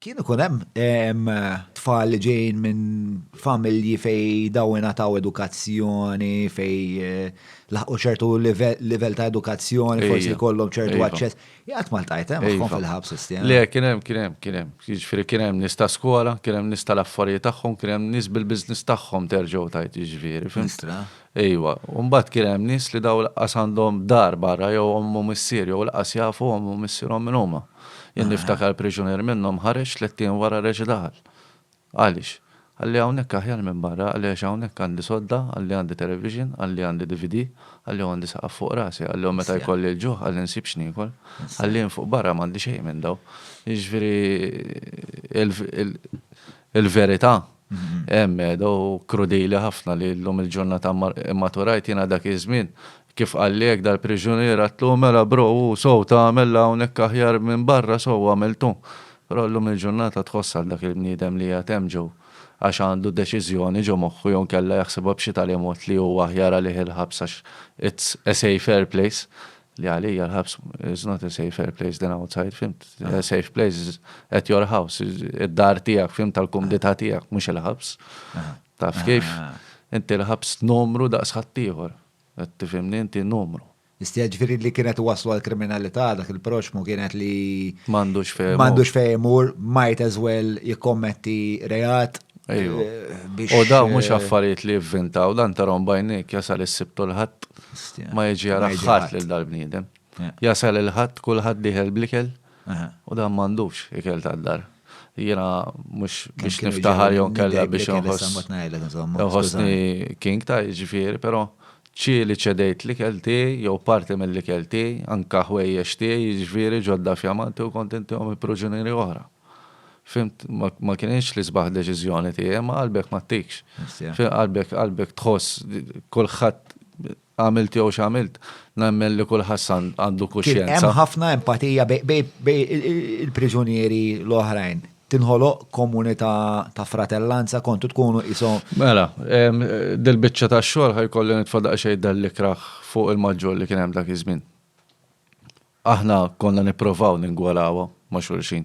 Kien ikun hemm tfal li ġejjin minn familji fejn dawn ingħataw edukazzjoni, fejn laħqu ċertu livell ta' edukazzjoni, forsi jkollhom ċertu aċċess. Jgħid ma ltajt hemm magħhom fil-ħabs is-sena. Le, kien hemm, kien hemm, kien hemm. Jiġifieri kien hemm nies ta' skola, kien hemm nies tal-affarijiet tagħhom, kien hemm nies bil-business tagħhom terġgħu tgħid jiġifieri, fimt? Ejwa. U mbagħad kien hemm nies li dawn lanqas għandhom dar barra jew omm u missier jew lanqas jafu omm u missierhom min huma. Jien niftakar priġunier minnhom ħareġ tlett ijiem wara reġa' daħal. Għaliex? Qalli hawnhekk aħjar minn barra, qalli għax hawnhekk għandi sodda, qalli għandi television, qalli għandi DVD, qalli u għandi saqaf fuq rasi, qalli u meta jkolli l-ġuħ qalli nsib x'niekol. Qalli jien fuq barra m'għandi xejn minn dawn. Jiġifieri il-verità Medda u krudili ħafna li llum il-ġurnata mmaturajt jiena dak iż-żmien. Kif qalli hekk dal-priġunier għedtlu, mela bro hu sew tagħmel hawnhekk aħjar minn barra sew għamiltu. Però llum il-ġurnata tħoss għal dak il-bniedem li qiegħed hemm ġew għax għandu deċiżjoni ġo moħħu jew inkella jaħsibha b'xi tali mod li hu aħjar għalih il-ħabs għax it's a safer place. Li għalija l-ħabs is not a safer place than outside, fimt? A safe place is at your house, id-dar tijak, fimt tal-kumdita tijak, mux il-ħabs. Taf kif? Inti l-ħabs numru daqs ħattijħor. Tifimni inti numru. Istija ġviri li kienet waslu għal-kriminalità dak il-proxmu kienet li. Mandux fejmur. Mandux fejmur, might as well jikkommetti reat. Ejju. Eh, u daw mux eh, affarijiet li jivvintaw, dan tarom bajnik jasal is-sibtu l-ħadd. ma jiġi jara ħadd lil dal-bniedem. Jasal il-ħadd, kulħadd diħel blikel u dan m'għandux ikel tad-dar. Jiena mhux biex niftaħar jew kellha biex nħossni king ta' ġifieri, però ċieli ċedejt l-ikel tiegħi jew parti mill-ikel tiegħi, anke ħwejjex tiegħi ġifieri ġodda f'jamanti u kont intihom il-pruġunieri oħra. Fhimt? Ma, ma kinitx l-isbaħ deċiżjoni tiegħi, ma qalbek ma ttikx. Fhimt? Qalbek, qalbek tħoss kulħadd għamilt jew x'għamilt, nemmen li kulħadd san għandu kuxjenza. Hemm ħafna empatija bej il-priġunieri l-oħrajn. Tinħoloq komunità ta' fratellanza kontu tkunu qishom. Mela, dil-biċċa tax-xogħol ħajkolli nitfa' daqsxejn dal-ikrah fuq il-maġġur li kien hemm dak iż-żmien. Aħna konna nipprovaw ningwarawha ma' xulxin.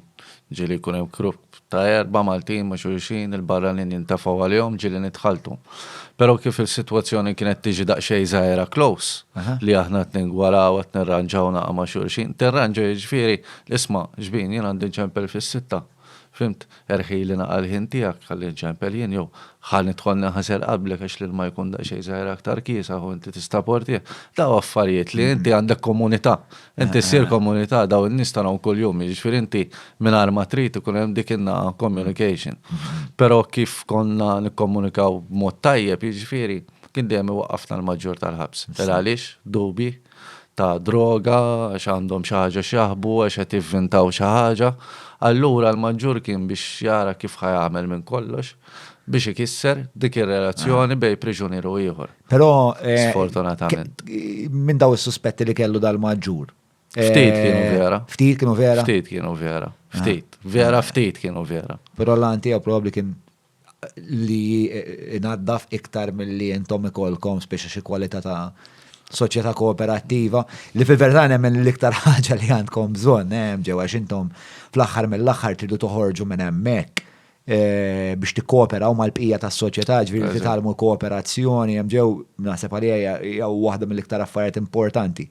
Ġieli jkun hemm grupp ta' erbgħa Maltin ma' xulxin, il-barranin jintefgħu għalihom, ġieli nidħaltu. Però kif is-sitwazzjoni kienet tiġi daqsxejn żgħira close, li aħna qed ningwaraw, qed nirranġaw naqa' ma' xulxin, tirranġa jiġifieri, isma' xbin, jien għandi nċempel fis-sitta. Fhimt? Erħili naqra l-ħin tiegħek ħalli nċempel jien jew ħa nidħol ninħasel qablek għax l-ilma jkun daqsxejn żgħir aktar kiesaħ u inti tista' portih. Dawn affarijiet li inti għandek komunità. Inti ssir komunità dawn in-nies tarahom kuljum, jiġifieri inti mingħajr ma trid ikun hemm dik in-naħa communication. Però kif konna nikkomunikaw b'mod tajjeb, jiġifieri kien dejjem iwaqqafna l-maġġur tal-ħabs. Tela' għaliex? Dubji? ta' droga, għax għandhom xi ħaġa x'jaħbu, għax qed jivvintaw xi ħaġa. Allura l-maġġur kien biex jara kif ħa jagħmel minn kollox biex ikisser dik ir-relazzjoni bejn priġunier u ieħor. Però sfortunatament. Minn daw is-suspetti li kellu dal-maġġur. Ftit kienu vera. Ftit kienu vera. Ftit kienu vera. Ftit. Vera ftit kienu vera. Però l-għan tiegħu probabbli kien li inaddaf iktar milli intom ikolkom speċi xi kwalità ta' soċjetà kooperattiva li fil-verità nemmen l-iktar ħaġa li għandkom bżonn hemm ġewwa x'intom fl-aħħar mill-aħħar tridu toħorġu minn hemmhekk eh, biex tikkooperaw mal-bqija tas-soċjetà ġifieri titgħallmu kooperazzjoni hemm ġew naħseb għalija hija waħda mill-iktar affarijiet importanti.